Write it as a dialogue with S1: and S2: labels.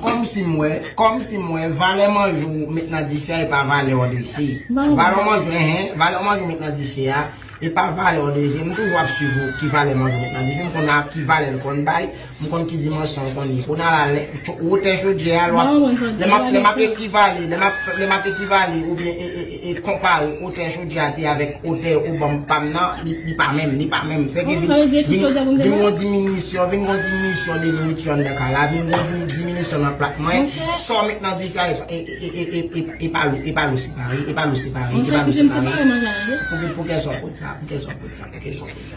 S1: Kòmsim wè, kòmsim wè, valè manjè w met nan dife a e pa valè w drese. Valè manjè w, hein, valè w manjè w met nan dife a e pa valè w drese. M toujou ap swiv ou, ki valè manjè w met nan dife, m konn ak ki valè l konn bay, m konn ki dimansyon l konn ye. Kounye a la, lè, cho, wotè chodyè a, lè m ap, lè m ap ekivale, lè m ap, lè m ap ekivale oubyen e, e, e. E konpare otè jodi a te avèk otè ou banm pam nan, li pa menm, li pa menm. Sèke vin gon diminisyon, vin gon diminisyon de nouriti anndan kay la, vin gon diminisyon nan plat mwen, sa w met nan dife a e pa lou, e pa lou se pare, e pa lou se pare, e pa lou se pare. Pou kèzon kout sa, pou kèzon kout sa, pou kèzon kout sa.